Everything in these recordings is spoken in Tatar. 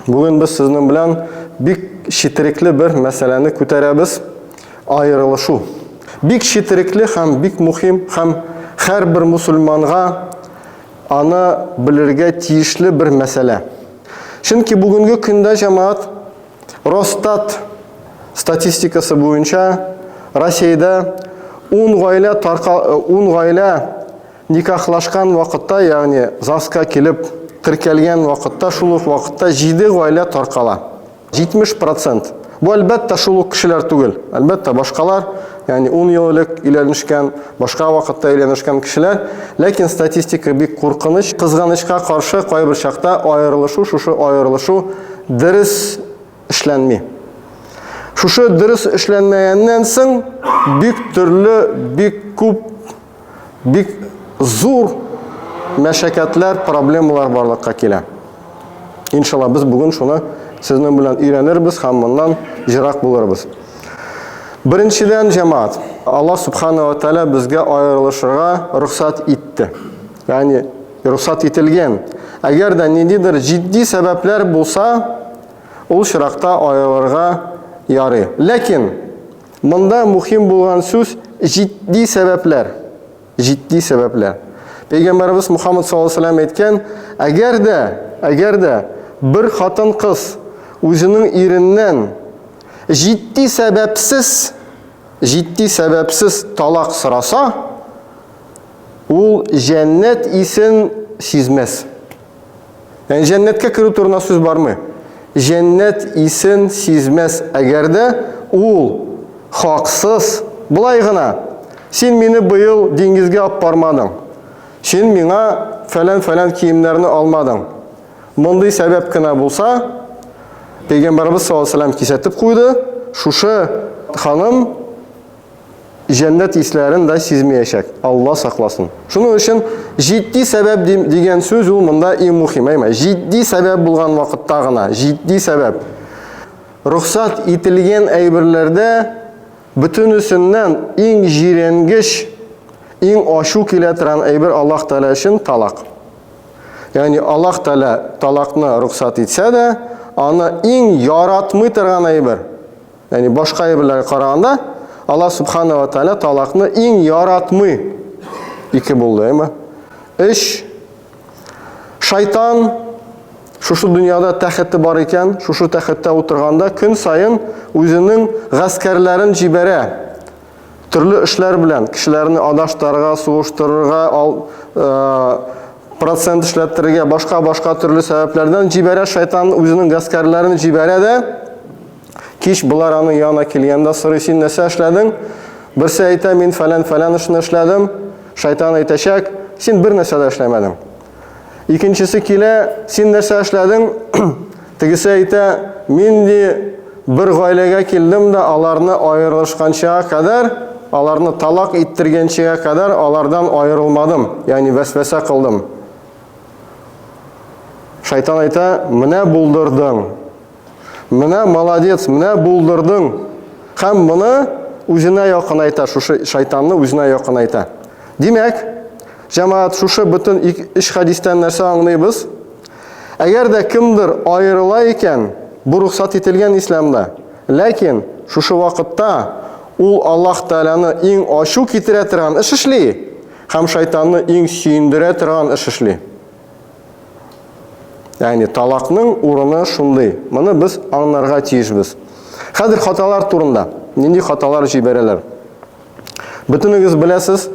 Бүген без сезнең белән бик четерекле бер мәсьәләне күтәрәбез, аерылышу. Бик четерекле һәм бик мөһим һәм һәрбер мусульманга аны белергә тиешле бер мәсьәлә. Чөнки бүгенге көндә җәмәгать Росстат статистикасы буенча Россиядә 10 гаилә тарка 10 гаилә Никахлашкан вакытта, ягъни ЗАГСка килеп теркәлгән вакытта, шул ук вакытта 7 гаилә таркала. 70 процент. Бу әлбәттә шул ук кешеләр түгел. Әлбәттә башкалар, ягъни 10 ел элек өйләнешкән, башка вакытта өйләнешкән кешеләр, ләкин статистика бик куркыныч. Кызганычка каршы, кайбер чакта аерылышу, шушы аерылышу дөрес эшләнми. Шушы дөрес эшләнмәгәннән соң бик төрле, бик күп бик зур мәшәкатьләр, проблемалар барлыкка килә. Иншалла, без бүген шуны сезнең белән өйрәнербез һәм моннан җырак булырбыз. Беренчедән, җәмаат, Алла Субхана ва Тәлә безгә аерылышырга рөхсәт итте. Ягъни рөхсәт ителгән. Әгәр дә ниндидер җитди сәбәпләр булса, ул чиракта аерылырга ярый. Ләкин Монда мухим булган сүз җитди сәбәпләр. Җитди сәбәпләр. Пәйгамбәрбез Мухаммад саллаллаһу алейһи ва сәлләм әйткән, әгәр дә, әгәр дә бер хатын-кыз үзенең иреннән җитди сәбәпсез, җитди сәбәпсез талак сораса, ул җәннәт исен сизмәс. Яни җәннәткә керү турына сүз бармый. Җәннәт исен сизмәс, әгәр дә ул хаксыз, болай гына, син мине быел диңгезгә алып бармадың, син миңа фәлән-фәлән киемнәрне алмадың. Мондый сәбәп кенә булса, Пәйгамбәрбез саллаллаһу алейһи ва сәлләм кисәтеп куйды, шушы ханым җәннәт исләрен дә сизмиячәк, Алла сакласын. Шуның өчен җитди сәбәп дигән сүз ул монда иң мухим, әйме? Җитди сәбәп булган вакытта гына, җитди сәбәп. Рөхсәт ителгән әйберләрдә бөтенесеннән иң җиренгеч, иң ачу килә торган әйбер Аллаһ Тәгалә өчен талак. Ягъни Аллаһ Тәгалә талакны рөхсәт итсә дә, аны иң яратмый торган әйбер. Яни башка әйберләргә караганда Алла субхана ва тааля талакны иң яратмый. Ике булды, әйме? Эш шайтан шушы дөньяда тәхете бар икән, шушы тәхеттә утырганда көн саен үзенең гаскәрләрен җибәрә. Төрле эшләр белән кешеләрне адаштарга, суыштырырга, ал, э, процент эшләттерергә, башка-башка төрле сәбәпләрдән җибәрә шайтан үзенең гаскәрләрен җибәрә дә. Кич болар аның янына килгәндә сорый, син нәрсә эшләдең? Берсе әйтә, мин фәлән-фәлән эшне эшләдем. Шайтан әйтәчәк, син бер нәрсә дә эшләмәдең. Икенчесе килә, син нәрсә эшләдең? Тегесе әйтә, мин ди бер гаиләгә килдем дә аларны аерылышканчага кадәр, аларны талак иттергәнчегә кадәр алардан аерылмадым, ягъни вәсвәсә кылдым. Шайтан әйтә, менә булдырдың. Менә молодец, менә булдырдың. Һәм моны үзенә якынайта, шушы шайтанны үзенә якынайта. Димәк, җәмаат, шушы бөтен өч хәдистән нәрсә аңлыйбыз? Әгәр дә кемдер аерыла икән, бу рөхсәт ителгән исламда. Ләкин шушы вакытта ул Аллаһ Тәгаләне иң ачу китерә торган эш эшли һәм шайтанны иң сөендерә торган эш эшли. Ягъни талакның урыны шундый. Моны без аңнарга тиешбез. Хәзер хаталар турында. Нинди хаталар җибәрәләр? Бөтенегез беләсез,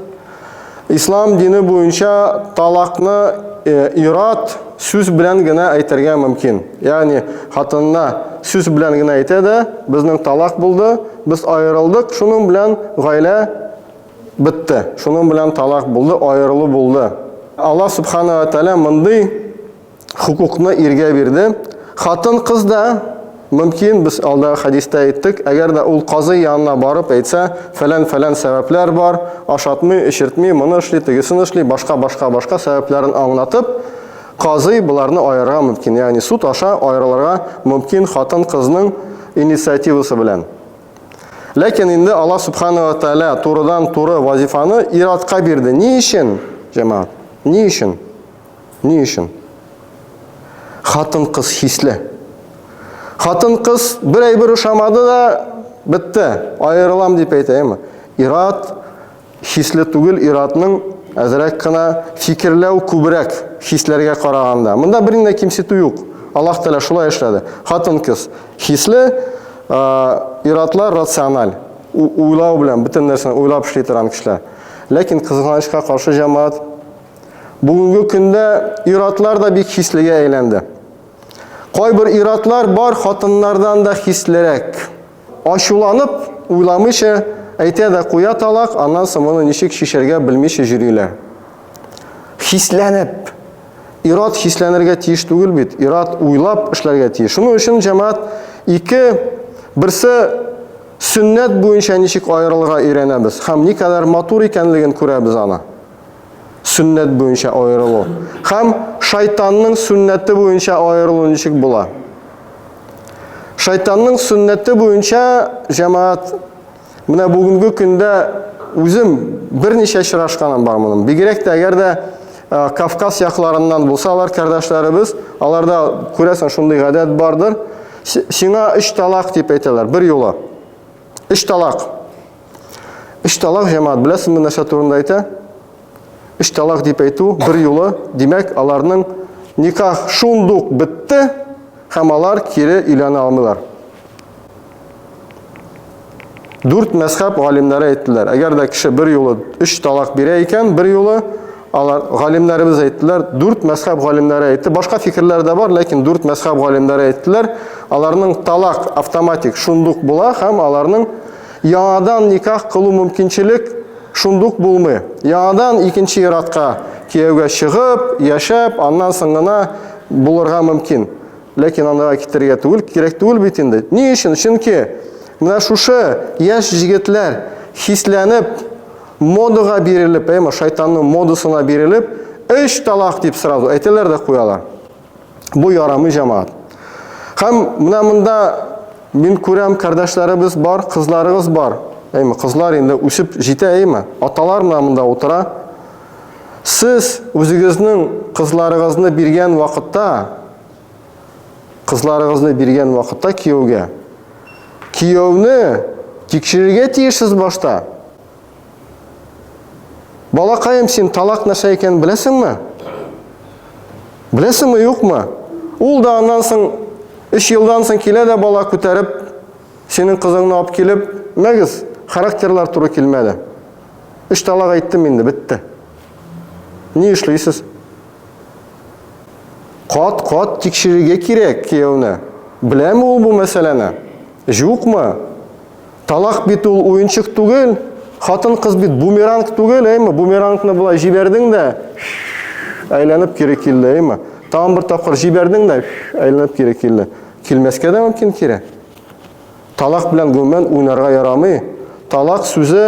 ислам дине буенча талакны э, ират сүз белән генә әйтергә мөмкин. Ягъни хатынына сүз белән генә әйтә дә, безнең талак булды, без аерылдык, шуның белән гаилә Бетте. Шуның белән талак булды, аерылу булды. Аллаһ Субхана ва Тәгалә мондый хокукны иргә бирде. Хатын-кыз да мөмкин, без алдагы хәдистә әйттек, әгәр дә ул казый янына барып әйтсә, фәлән-фәлән сәбәпләр бар, ашатмый, эчертми, моны эшли, тегесен эшли, башка-башка-башка сәбәпләрен аңлатып, казый боларны аерырга мөмкин. Ягъни суд аша аерылырга мөмкин хатын-кызның инициативасы белән. Ләкин инде Аллаһ Субхану Аталя турыдан туры вазифаны иратка бирде. Ни өчен, җәмәгать? Ни өчен? Ни өчен? Хатын-кыз хисле. Хатын-кыз бер әйбер ошамады да бетте, аерылам дип әйтә, әйме? Ират Хисле түгел ир-атның әзрәк кына фикерләү күбрәк хисләргә караганда. Монда берни дә кимсетү юк. Аллаһ Тәгалә шулай эшләде. Хатын-кыз хисле, ир-атлар рациональ, уйлау белән, бөтен нәрсәне уйлап эшли торган кешеләр. Ләкин кызганычка каршы җәмәгать, бүгенге көндә ир-атлар да бик хислегә әйләнде. Кайбер ир-атлар бар хатыннардан да хислерәк. Ачуланып, уйламыйча, әйтә дә куя талак, аннан соң моны ничек чишәргә белмичә йөриләр. Хисләнеп. Ир-ат хисләнергә тиеш түгел бит, ир-ат уйлап эшләргә тиеш. Шуның өчен, җәмәгать, ике, берсе сөннәт буенча ничек аерылырга өйрәнәбез һәм никадәр матур икәнлеген күрәбез аны. сөннәт буенча аерылу һәм шайтанның сөннәте буенча аерылу ничек була? Шайтанның сөннәте буенча җәмәгать менә бүгенге көндә үзем берничә очрашканым бар моның. Бигрәк тә әгәр дә Кавказ якларыннан булсалар кардәшләребез, аларда күрәсең шундый гадәт бардыр. Сиңа өч талак дип әйтәләр бер юлы. Өч талак. Өч талак җәмәгать беләсезме нәрсә турында әйтә? Өч талак дип әйтү бер юлы, димәк, аларның никах шундук бетте һәм алар кире өйләнә алмыйлар. Дүрт мәзхәб галимнәре әйттеләр. Әгәр дә кеше бер юлы өч талак бирә икән, бер юлы алар галимнәребез әйттеләр, дүрт мәзхәб галимнәре әйтте. Башка фикерләр дә бар, ләкин дүрт мәзхәб галимнәре әйттеләр. Аларның талак автоматик шундук була һәм аларның яңадан никах кылу мөмкинчелек шундук булмый. Яңадан икенче иратка кияүгә чыгып, яшәп, аннан соң гына булырга мөмкин. Ләкин андыга китергә түгел, кирәк түгел бит инде. Ни өчен? Чөнки менә шушы яшь җегетләр хисләнеп, модага бирелеп, әйме, шайтанның модасына бирелеп, өч талак дип сразу әйтәләр дә куялар. Бу ярамый җамаат. Хәм менә монда мин күрәм, кардәшләребез бар, кызларыгыз бар. Әйме, кызлар инде үсеп җитә, әйме? Аталар менә монда утыра. Сез үзегезнең кызларыгызны биргән вакытта, кызларыгызны биргән вакытта кияүгә, кияүне тикшерергә тиешсез башта. Балакаем, син талак нәрсә икәнен беләсеңме? Беләсеңме, юкмы? Ул да аннан соң 3 елдан соң килә дә бала күтәреп, синең кызыңны алып килеп, мәгез, характерлар туры килмәде. Өч талак әйттем инде, бетте. Ни эшлисез? Кат-кат тикшерергә кирәк кияүне. Беләме ул бу мәсьәләне? Юкмы? Талак бит ул уенчык түгел. Хатын кыз бит бумеранг түгел, әйме? Бумерангны болай җибәрдең дә әйләнеп кире килде, әйме? Тагын бер тапкыр җибәрдең дә әйләнеп кире килде. Килмәскә дә мөмкин кире. Талак белән гомумән уйнарга ярамый. Талак сүзе,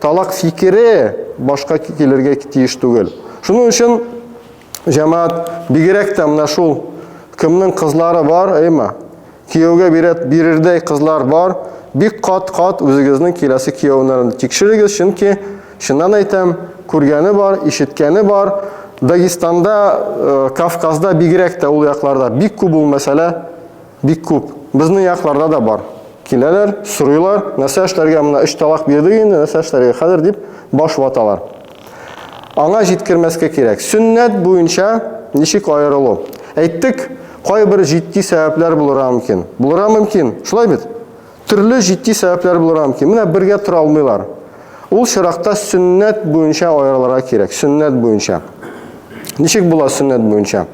талак фикере башка килергә тиеш түгел. Шуның өчен җәмәгать, бигрәк тә менә шул кемнең кызлары бар, әйма, кияүгә бирәт бирердәй кызлар бар, бик кат-кат үзегезнең киләсе кияүләрен тикшерегез, чөнки чыннан әйтәм, күргәне бар, ишеткәне бар, Дагестанда, э, Кавказда бигрәк тә ул якларда бик күп ул мәсьәлә. Бик күп. Безнең якларда да бар. Киләләр, сорыйлар, нәрсә эшләргә, менә өч талак бирдек инде, нәрсә эшләргә хәзер, дип баш ваталар. Аңа җиткермәскә кирәк. Сөннәт буенча ничек аерылу? Әйттек, кайбер җитди сәбәпләр булырга мөмкин. Булырга мөмкин. Шулай бит? Төрле җитди сәбәпләр булырга мөмкин. Менә бергә тора алмыйлар. Ул чиракта сөннәт буенча аерылырга кирәк. Сөннәт буенча. Ничек була сөннәт буенча?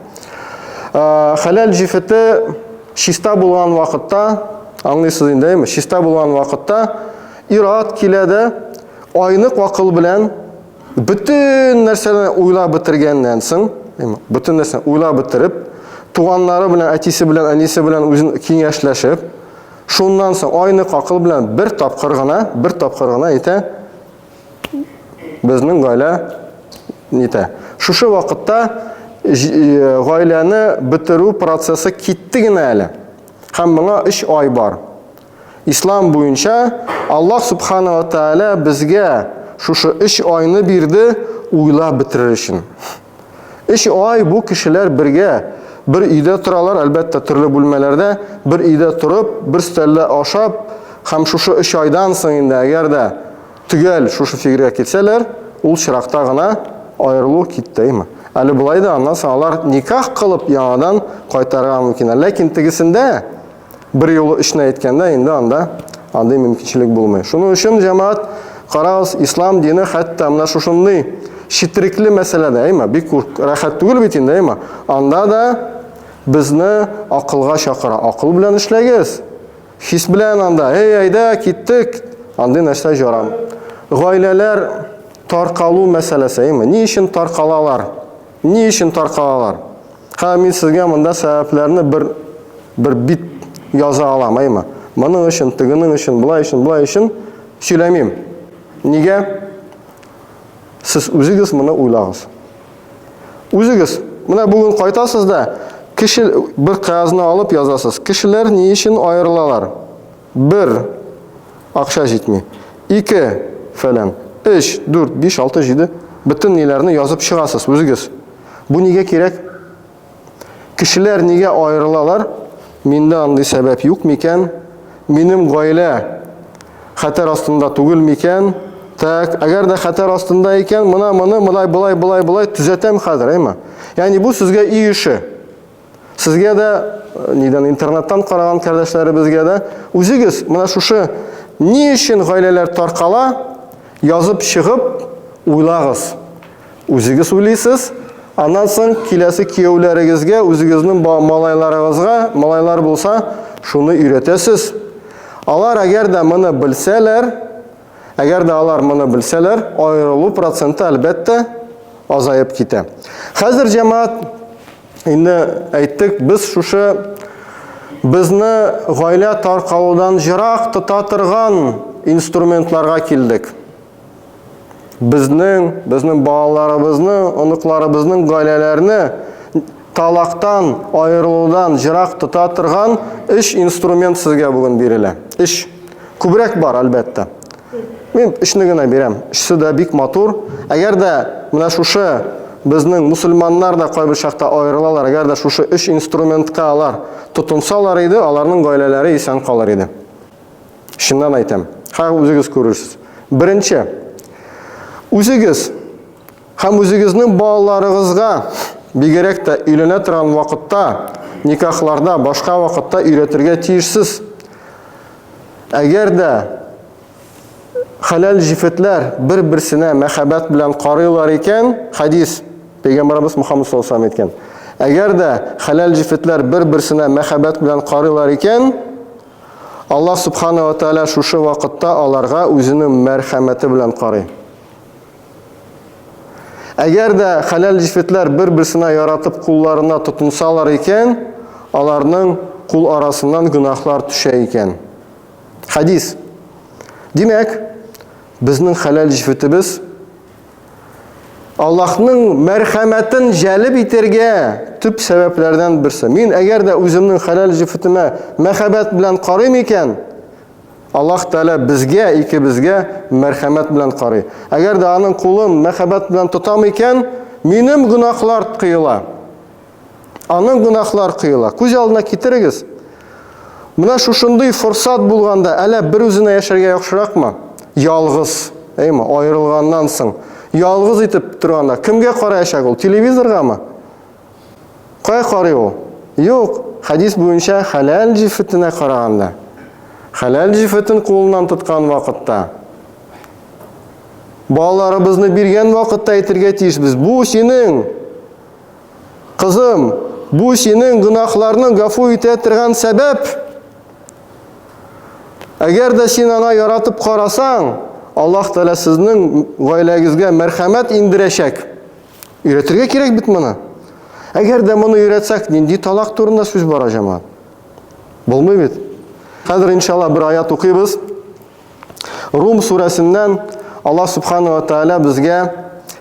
Хәләл җефете чиста булган вакытта, аңлыйсыз инде, әйме? Чиста булган вакытта ират килә дә, айнык акыл белән бөтен нәрсәне уйлап бетергәннән соң, бөтен нәрсәне уйлап бетереп, туганнары белән, әтисе белән, әнисе белән үзен киңәшләшеп, Шуннан соң айнык акыл белән бер тапкыр гына, бер тапкыр гына әйтә, безнең гаилә нитә. Шушы вакытта э, гаиләне бетерү процессы китте генә әле. Һәм моңа 3 ай бар. Ислам буенча Аллаһ субхана ва тааля безгә шушы 3 айны бирде уйлап бетерер өчен. Өч ай бу кешеләр бергә, бер өйдә торалар, әлбәттә, төрле бүлмәләрдә, бер өйдә торып, бер өстәлдә ашап, һәм шушы өч айдан соң инде, әгәр дә төгәл шушы фигергә килсәләр, ул чиракта гына аерылу киттеме? Әле болай да аннан соң алар никах кылып яңадан кайтарырга мөмкиннәр. Ләкин тегесендә, Бер юлы өчне әйткәндә инде анда андый мөмкинчелек булмый. Шуның өчен җәмәгать карагыз, ислам дине хәтта менә шушындый читрикле мәсьәләдә, әйма, бик рәхәт түгел бит инде, әйма. Анда да безне акылга чакыра. Акыл белән эшләгез. Хис белән анда, эй, әйдә, киттек. Андый нәрсә җарам. Гаиләләр таркалу мәсьәләсе, әйма. Ни өчен таркалалар? Ни өчен таркалалар? Һәм мин сезгә монда сәбәпләрне бер бер бит яза алам, әйме? Моның өчен, тегенең өчен, болай өчен, болай өчен сөйләмим. Нигә? Сез үзегез моны уйлагыз. Үзегез менә бүген кайтасыз да, кеше бер кагазны алып язасыз. Кешеләр ни өчен аерылалар? Бер, акча җитми. Ике, фәлән. Өч, дүрт, биш, алты, җиде. Бөтен ниләрне язып чыгасыз үзегез. Бу нигә кирәк? Кешеләр нигә аерылалар? Миндә андый сәбәп юк микән? Минем гаилә хәтәр астында түгел микән? Так, әгәр дә хәтәр астында икән, мына моны мына болай болай болай төзәтәм хәзер, әйме? Ягъни бу сезгә өй эше. Сезгә дә, нидән интернеттан караган кардәшләребезгә дә, үзегез менә шушы ни өчен гаиләләр таркала, язып чыгып уйлагыз. Үзегез уйлыйсыз, аннан соң киләсе кияүләрегезгә, үзегезнең малайларыгызга, малайлар булса, шуны өйрәтәсез. Алар әгәр дә моны белсәләр, Әгәр дә алар моны белсәләр, аерылу проценты әлбәттә азаеп китә. Хәзер җәмәгать инде әйттек, без шушы безне гаилә таркалудан җырак тота торган инструментларга килдек. Безнең, безнең балаларыбызны, оныкларыбызның гаиләләрне Талактан аерылудан җырак тота торган өч инструмент сезгә бүген бирелә. Өч. Күбрәк бар, әлбәттә. Мин өчне генә бирәм. Өчесе дә бик матур. Әгәр дә менә шушы безнең мусульманнар да кайбер чакта аерылалар, әгәр дә шушы өч инструментка алар тотынсалар иде, аларның гаиләләре исән калыр иде. Чыннан әйтәм. Хәзер үзегез күрерсез. Беренче. Үзегез Һәм үзегезнең балаларыгызга, бигрәк тә өйләнә торган вакытта, никахларда, башка вакытта өйрәтергә тиешсез. Әгәр дә хәләл җефетләр бер-берсенә мәхәббәт белән карыйлар икән, хәдис, Пәйгамбәребез Мөхәммәд саллаллаһу алейһи ва саллям әйткән, әгәр дә хәләл җефетләр бер-берсенә мәхәббәт белән карыйлар икән, Аллаһ Субхана ва Тәгалә шушы вакытта аларга үзенең мәрхәмәте белән карый. Әгәр дә хәләл җефетләр бер-берсенә яратып кулларына тотынсалар икән, аларның кул арасыннан гөнаһлар төшә икән. Хәдис. Димәк, безнең хәләл җефетебез Аллаһның мәрхәмәтен җәлеп итәргә төп сәбәпләрдән берсе. Мин әгәр дә үземнең хәләл җефетемә мәхәббәт белән карыйм икән, Аллаһ Тәгалә безгә, икебезгә мәрхәмәт белән карый. Әгәр дә Аның кулын мәхәббәт белән тотам икән, минем гөнаһлар коела. Аның гөнаһлар коела. Күз алдына китерегез. Менә шушындый форсат булганда, әллә бер үзенә яшәргә яхшыракмы? Ялгыз, әйме, аерылганнан соң, ялгыз итеп торганда, кемгә караячак ул? Телевизоргамы? Кая карый ул? Юк, хәдис буенча хәләл җифетенә караганда. Хәләл җифетен кулыннан тоткан вакытта, балаларыбызны биргән вакытта әйтергә тиешбез. Бу синең, кызым, бу синең гөнаһларны гафу итә торган сәбәп. Әгәр дә син ана яратып карасаң, Аллаһ Тәгалә сезнең гаиләгезгә мәрхәмәт индерәчәк. Өйрәтергә кирәк бит моны. Әгәр дә моны өйрәтсәк, нинди талак турында сүз бара, җәмәгать? Булмый бит. Хәзер иншалла бер аят укыйбыз. Рум сүрәсеннән Аллаһ субханала тааля безгә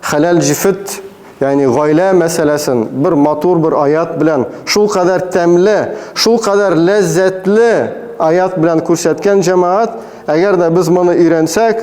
хәләл җифет, ягъни гаилә мәсьәләсен бер матур бер аят белән, шул кадәр тәмле, шул кадәр ләззәтле аят белән күрсәткән җәмәгать, әгәр дә без моны өйрәнсәк,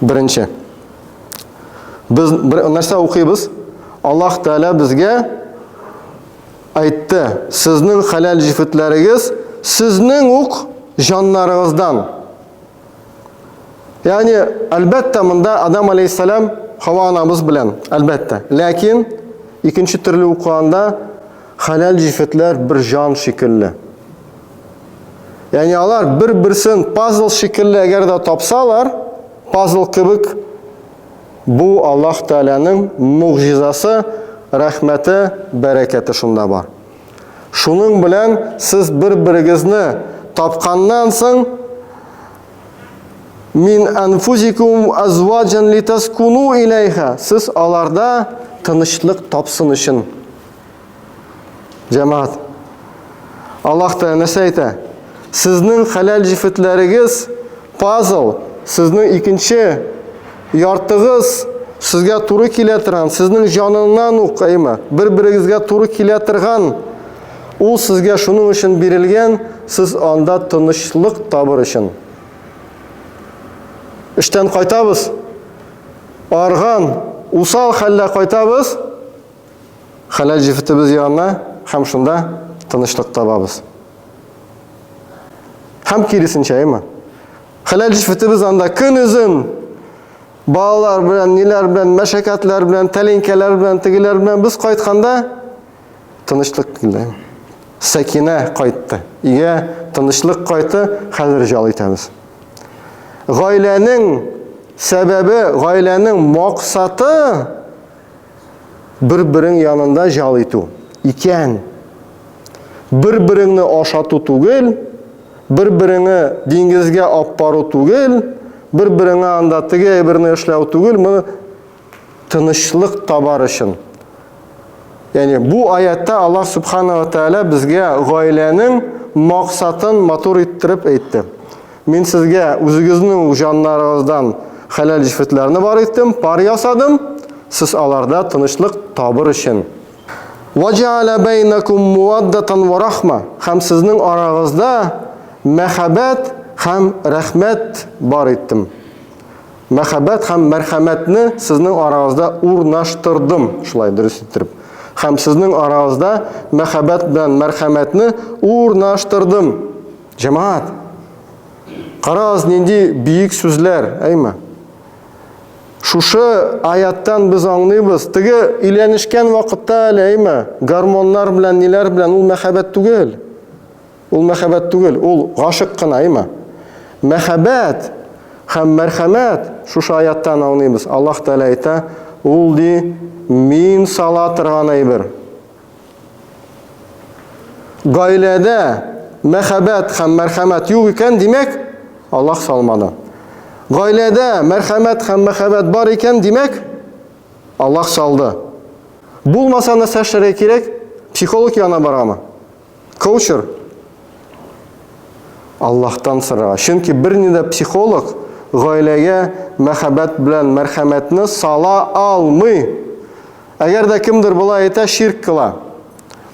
Беренче. Без бер нәрсә укыйбыз? Аллаһ Тәгалә безгә әйтте, сезнең хәләл җефетләрегез сезнең ук җаннарыгыздан. Ягъни, әлбәттә, монда Адам алейһиссалам Хава анабыз белән, әлбәттә. Ләкин икенче төрле укыганда хәләл җефетләр бер җан шикелле. Яни алар бер-берсен пазл шикелле әгәр дә тапсалар, пазл кебек бу Аллаһ Тәгаләнең мугъҗизасы, рәхмәте, бәрәкәте шунда бар. Шуның белән сез бер-берегезне тапканнан соң мин анфузикум азваджан литаскуну иләйха. Сез аларда тынычлык тапсын өчен Җәмәгать. Аллаһ Тәгалә нәрсә әйтә? Сезнең хәләл җифетләрегез пазл, сезнең икенче яртыгыз сезгә туры килә торган, сезнең җаныннан ук, әйме, бер-берегезгә туры килә торган, ул сезгә шуның өчен бирелгән, сез анда тынычлык табыр өчен. Эштән кайтабыз, арган, усал хәлдә кайтабыз, Хәләл җефетебез янына һәм шунда тынычлык табабыз. Һәм киресенчә, әйме? Хәләл җефетебез анда көн озын балалар белән, ниләр белән, мәшәкатьләр белән, тәлинкәләр белән, тегеләр белән без кайтканда тынычлык килде. Сәкинә кайтты. Иә, тынычлык кайты, хәзер жал итәбез. Гаиләнең сәбәбе, гаиләнең максаты Бер-берең янында җал итү икән. Бер-береңне ашату түгел, бер-береңе диңгезгә ап бару түгел, бер-береңә анда теге әйберне эшләү түгел, моны тынычлык табар өчен. Яни бу аятта Аллаһ Субхана ва Тааля безгә гаиләнең максатын матур иттереп әйтте. Мин сезгә үзегезнең үк җаннарыгыздан хәләл җефетләрне бар иттем, пар ясадым, сез аларда тынычлык табыр өчен. Ваҗәалә бәйнәкум муаддатан ва рахма, һәм сезнең арагызда мәхәббәт һәм рәхмәт бар иттем. Мәхәббәт һәм мәрхәмәтне сезнең арагызда урнаштырдым, шулай дөрес иттереп. Һәм сезнең арагызда мәхәббәт белән мәрхәмәтне урнаштырдым. Җәмәгать! Карагыз, нинди биек сүзләр, әйме? Шушы аяттан без аңлыйбыз, теге өйләнешкән вакытта әле, әйме, гормоннар белән, ниләр белән, ул мәхәббәт түгел. Ул мәхәббәт түгел, ул гашык кына, әйме? Мәхәббәт һәм мәрхәмәт шушы аяттан аңлыйбыз. Аллаһ Тәгалә әйтә, ул ди, мин сала торган әйбер. Гаиләдә мәхәббәт һәм мәрхәмәт юк икән, димәк, Аллаһ салмады. Гаиләдә мәрхәмәт һәм мәхәббәт бар икән, димәк, Аллаһ салды. Булмаса нәрсә эшләргә кирәк? Психолог янына барамы? Коучер? Аллаһтан сорарга. Чөнки берни дә психолог гаиләгә мәхәббәт белән мәрхәмәтне сала алмый. Әгәр дә кемдер болай әйтә, ширк кыла.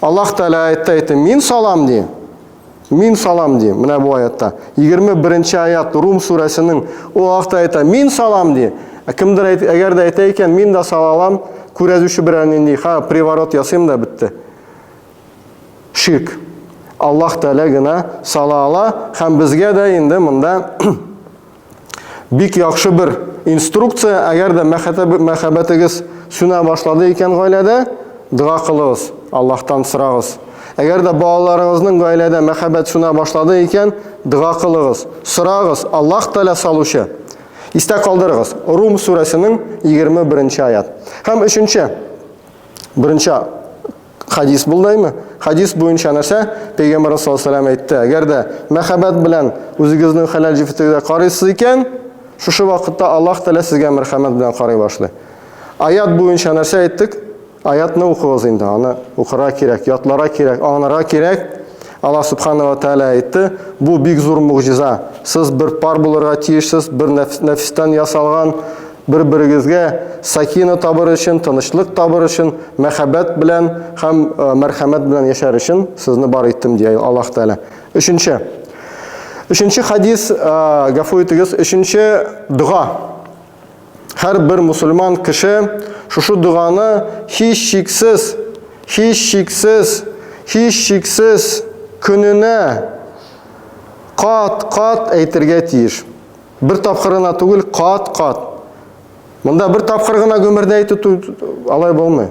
Аллаһ Тәгалә әйтте әйтте, мин салам ди. Мин салам ди. Менә бу аятта. 21-нче аят Рум сүрәсенең ул ахта әйтә, мин салам ди. Ә кемдер әйт, әгәр дә әйтә икән, мин дә салалам, күрәзүче берәр нинди, ха, приворот ясыйм да бетте. Ширк. Аллаһ Тәгалә генә сала ала һәм безгә дә инде монда Бик яхшы бер инструкция, әгәр дә мәхәббәтегез сүнә башлады икән гаиләдә, дога кылыгыз, Аллаһтан сорагыз. Әгәр дә балаларыгызның гаиләдә мәхәббәт сүнә башлады икән, дога кылыгыз, сорагыз, Аллаһ Тәгалә салучы. Истә калдырыгыз, Рум сүрәсенең 21 нче аят. Һәм өченче, беренче Хадис булдаймы? Хадис буенча нәрсә? Пәйгамбәр саллаллаху алейһи әйтте, әгәр дә мәхәббәт белән үзегезнең хәләл җефетегезгә карыйсыз икән, шушы вакытта Аллаһ Тәгалә сезгә мәрхәмәт белән карый башлый. Аят буенча нәрсә әйттек? Аятны укыгыз инде, аны укырга кирәк, ятларга кирәк, аңларга кирәк. Аллаһ Субхана ва Тәгалә әйтте, Бу бик зур могҗиза. Сез бер пар булырга тиешсез, бер нәфестән ясалган, бер-берегезгә сакина табыр өчен, тынычлык табыр өчен, мәхәббәт белән һәм э, мәрхәмәт белән яшәр өчен сезне бар иттем, дия Аллаһ Тәгалә. Өченче. Өченче хадис, э, гафу итегез, өченче дога. Һәрбер мусульман кеше шушы доганы һичшиксез, һичшиксез, һичшиксез көненә кат-кат әйтергә тиеш. Бер тапкырына түгел, кат-кат. Монда бер тапкыр гына гомердә әйтү алай булмый.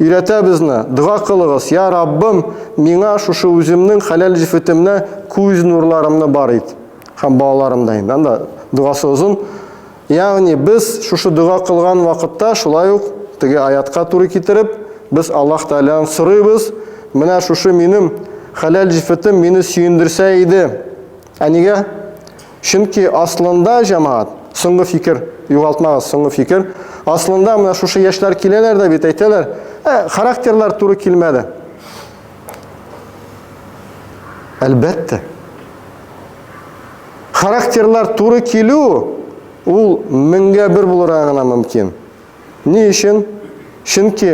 Өйрәтә безне, дога кылыгыз, Я Раббым, миңа шушы үземнең хәләл җефетемнә күз нурларымны бар ит. Һәм балаларым да инде, анда догасы озын. Ягъни без шушы дога кылган вакытта шулай ук теге аятка туры китереп, без Аллаһ Тәгаләдән сорыйбыз, менә шушы минем хәләл җефетем мине сөендерсә иде, Ә нигә? Чөнки аслында, җәмәгать, соңгы фикер, югалтмагыз, соңгы фикер, аслында менә шушы яшьләр киләләр дә бит әйтәләр, ә, характерлар туры килмәде. Әлбәттә. Характерлар туры килү ул меңгә бер булырга гына мөмкин. Ни өчен? Чөнки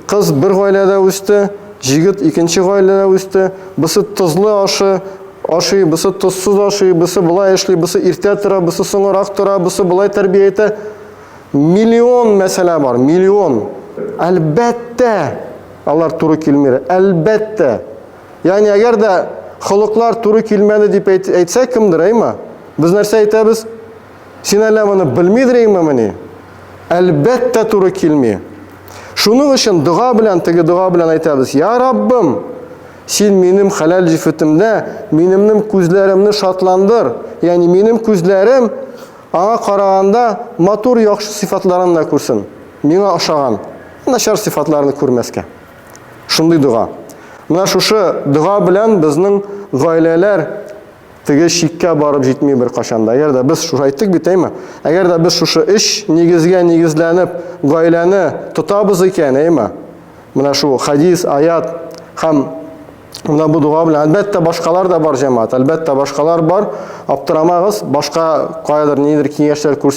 кыз бер гаиләдә үсте, җигет икенче гаиләдә үсте, бысы тозлы ашы ашый, бысы тозсыз ашый, бысы болай эшли, бысы иртә тора, бысы соңырак тора, бысы болай тәрбия итә. Миллион мәсьәлә бар, миллион. Әлбәттә, алар туры килмер, әлбәттә. Ягъни әгәр дә холыклар туры килмәде дип әйтсә кемдер, әйма? Без нәрсә әйтәбез? Син әллә моны белмидер инмени? Әлбәттә туры килми. Шуның өчен дога белән, теге дога белән әйтәбез, Я Раббым, син минем хәләл җифетемдә минемнең күзләремне шатландыр, ягъни минем күзләрем аңа караганда матур яхшы сыйфатларын да күрсен, миңа ошаган начар сыйфатларны күрмәскә. Шундый дога. Менә шушы дога белән безнең гаиләләр Теге чиккә барып җитми беркайчан да. Әгәр дә без шушы әйттек бит, әйме? Әгәр дә без шушы өч нигезгә нигезләнеп гаиләне тотабыз икән, әйме? Менә шул хадис, аят һәм Мына бу дуга белән әлбәттә башкалар да бар җәмәгать. Әлбәттә башкалар бар. Аптырамагыз, башка каядыр нидер киңәшләр күрсә